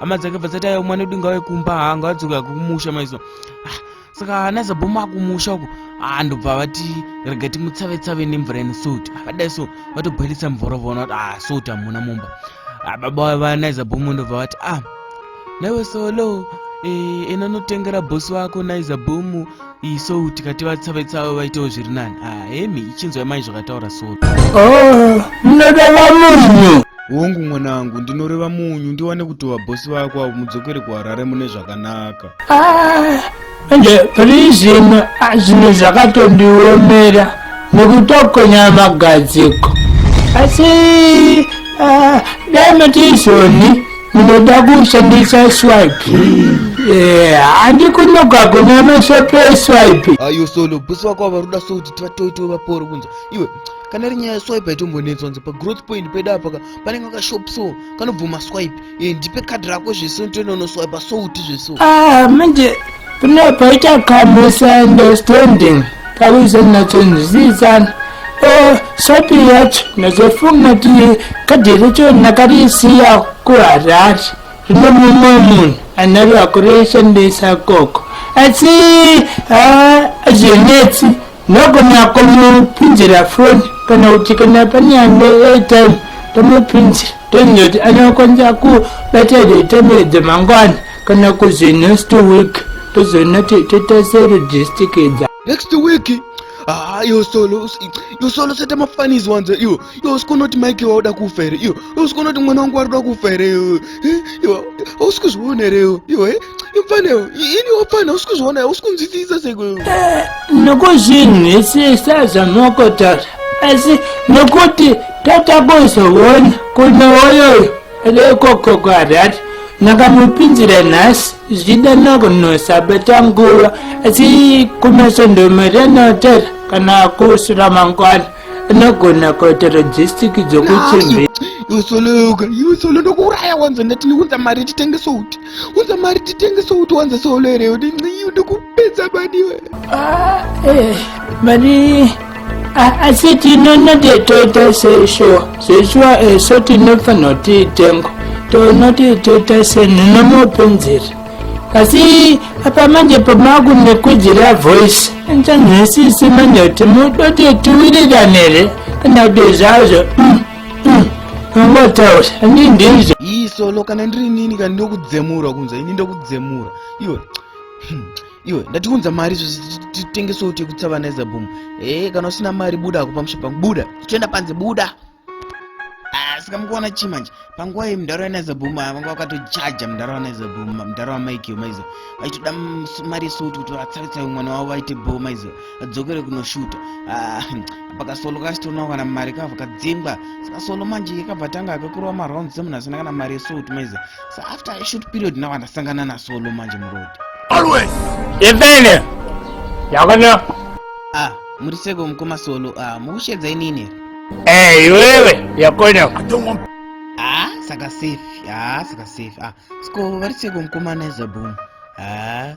hama dzake bva dzati ayo mwana wedu ngauye kumba haa ngawadzoka kumusha maiziva ah, saka ana zabhomu akumusha uko haa ah, ndobva vati rega timutsave tsave nemvura ine salt ah, vadai so vatobhoilisa mvura vaona kuti haa salt hamuna mumba baba vana izabhomu ndobva vati ah naiwe solo eh, ena notengera bhosi wako naizabhomu iyi so tikati vatsavetsawo vaitewo zviri nani ah, hemi ichinzwa yamai zvakataura solo oh, munoda vamunhu hongu mwana wangu ndinoreva munyu ndiwane kuti vabhosi vako avo mudzokere kuharare mune zvakanaka ah, ende pari zvino ah, zvinhu zvakatondiomera nekutokonya magadziko asi dai matizoni Ndinoda kushandisa swipe. Eh, handi kunoka kuna mashopo eswipe. Ayo solo, bosi wako avaruda so kuti tivatoito vaporo kunza. Iwe, kana iri nyaya swipe haitombonetswa nze pagrowth point pedu apa ka panenge kashop so kanobvuma swipe e, ndipe kadhi rako zveso ntoenda unoswipa souti zveso ah, manje Kune paita ka misunderstanding kawize nachonzwisisana o sopi yacho nazofunga kuti kadhi racho nakarisiya kuharari zvino mumwe munhu anaro akurishandisa koko asi hazvinetsi Nagona kumupinzira foni kana kuti kana pane ane airtime tomupinzira toenda kuti anokwanisa kubata airtime idzo mangwana kana kuzi next week tozoona toita selogistic dza next week Ah, yo solo, yo solo sete mafanizi wanze iyo. Yo usikonoti Mike wauda kufa here iyo. Yo usikonoti mwana wangu waruda kufa here iyo. Yo usikuzviona here iyo. Yo eh. imfanewo ini wapfana usi kuzviona usi kunzwisisa sekwewe eh, nokuzinhwisisa zvamokotaura asi nokuti tatakuzoona kuti woyoyo rekoko kwarati ndakamupinzira nhasi zvichida nakunosabata nguva asi kumasondomere notera kana kusura mangwana anogona kuita logistic dzokuchembera iwe solo yoga iwe solo ndokuuraya wanzwa ndati ndikunza mari titenge souti Unza mari titengese uti wanza solo here udi nxii udi kupedza mani iwe. Ah, eh, mani asi tinonoti toita seshuwa seshuwa eso tinofanira kuti itengo tonoti toita senhinomopunzira asi apa manje pamakunekudzira voice nchanhasisi manje kuti mudoti tiwirirane here kana kuti zvazvo mm. Amataura handii ndizvo. Ii solo kana ndiri nini kana ndokudzemura kunza ini ndokudzemura iwe hmm, iwe ndatiunza mari titengese uti yekutsa vana ezabhum ee eh, kana usina mari buda ako pamusha pangu buda tichienda panze buda ah, saka mukuona chii manje panguva iyi mudhara wanaezabhum vanga vakatochaja mudhara wanaezabhum mudhara wamaikio maiza vaitoda mari yesuti kuti vatsaritsayo mwana wavo vaite bho maiza dzokere kunoshuta ah, pakasolo kachitonawo kana mari kavo kadzingwa saka solo manje yakabva tanga akakurova marounds semunhu asina kana mari yesout maize sa after ishut period nawo andasangana nasolo manje muroad always ivene yakona ah muri seko mukoma solo ah mukushedza inini eh iwewe yakona ah saka safe ah saka safe ah siko vari seko mukoma nezabum ah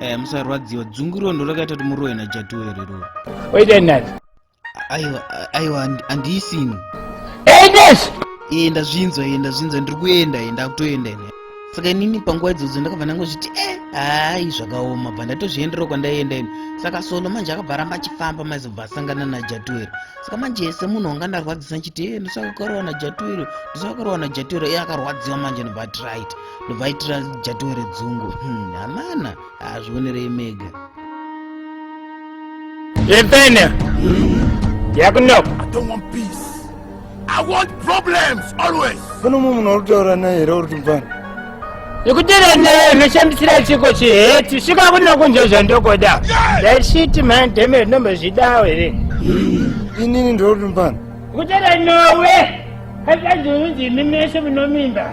eh, musarwadziwa dzungu iroo ndo rakaita kuti murowe najatuwe reroo waita nani aiwa aiwa handiisini enes ee ndazvinzwa ee ndazvinzwa ndiri kuenda ee ndakutoenda ine saka inini panguva idzodzo ndakabva ndangozviti e eh, hayi zvakaoma bva ndatozvienderawo kwandaienda ini saka solo manje akabva ramba achifamba maizobva asangana najatuwero saka manje yese munhu wanga ndarwadzisa nchiti e eh, ndosaka ukarowa najatuwero ndosaka ukarowa najatuwero iye akarwadziwa manje nobva ati right ndovaitira jatiwe redzungu hmm, hamana hazvionerei mega Levenia, yakunoko. I don't want peace. I want problems always. Kuno mumwe munhu uritaura naye here uri tumfana? Ikutira naye ndoshambisira chiko chiheti svika kuno kunzva zvandokoda. That shit man damn it nombe zvidawo here. Inini ndiri tumfana. Kutira nawe. Hazvazvinzi mimeshe munomimba.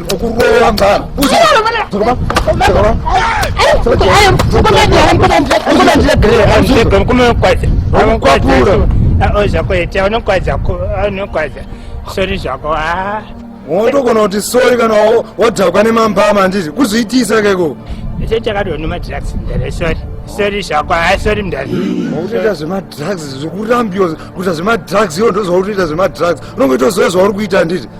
sori zvako wotogona kuti sori kana wadhakwa nemambama handiti kuzviitisa keko icho chakadoni madrugs ndere sori sori zvako hai sori mndani wautoita zvemadrugs zvekurambiwa kuita zvemadrugs iwo ndozvautoita zvemadrugs unongoita zvoya zvauri kuita handiti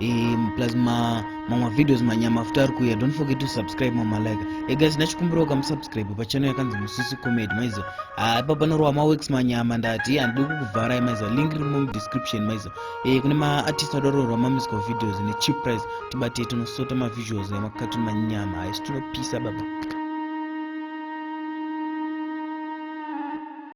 e, plus ma mamwe videos manyama futi ari kuuya don't forget to subscribe mamalike e guys ndachikumbirawo kamusubscribe pachannel yakanzi musisi comedy maizo haipa ah, panorowa maworks manyama ndati handidi kukuvharai maizo link riri mudescription maizo e, kune maartist adororwa mamisco videos necheap price tibatei tinosota mavisuals emakatuni manyama haisi tinopisa baba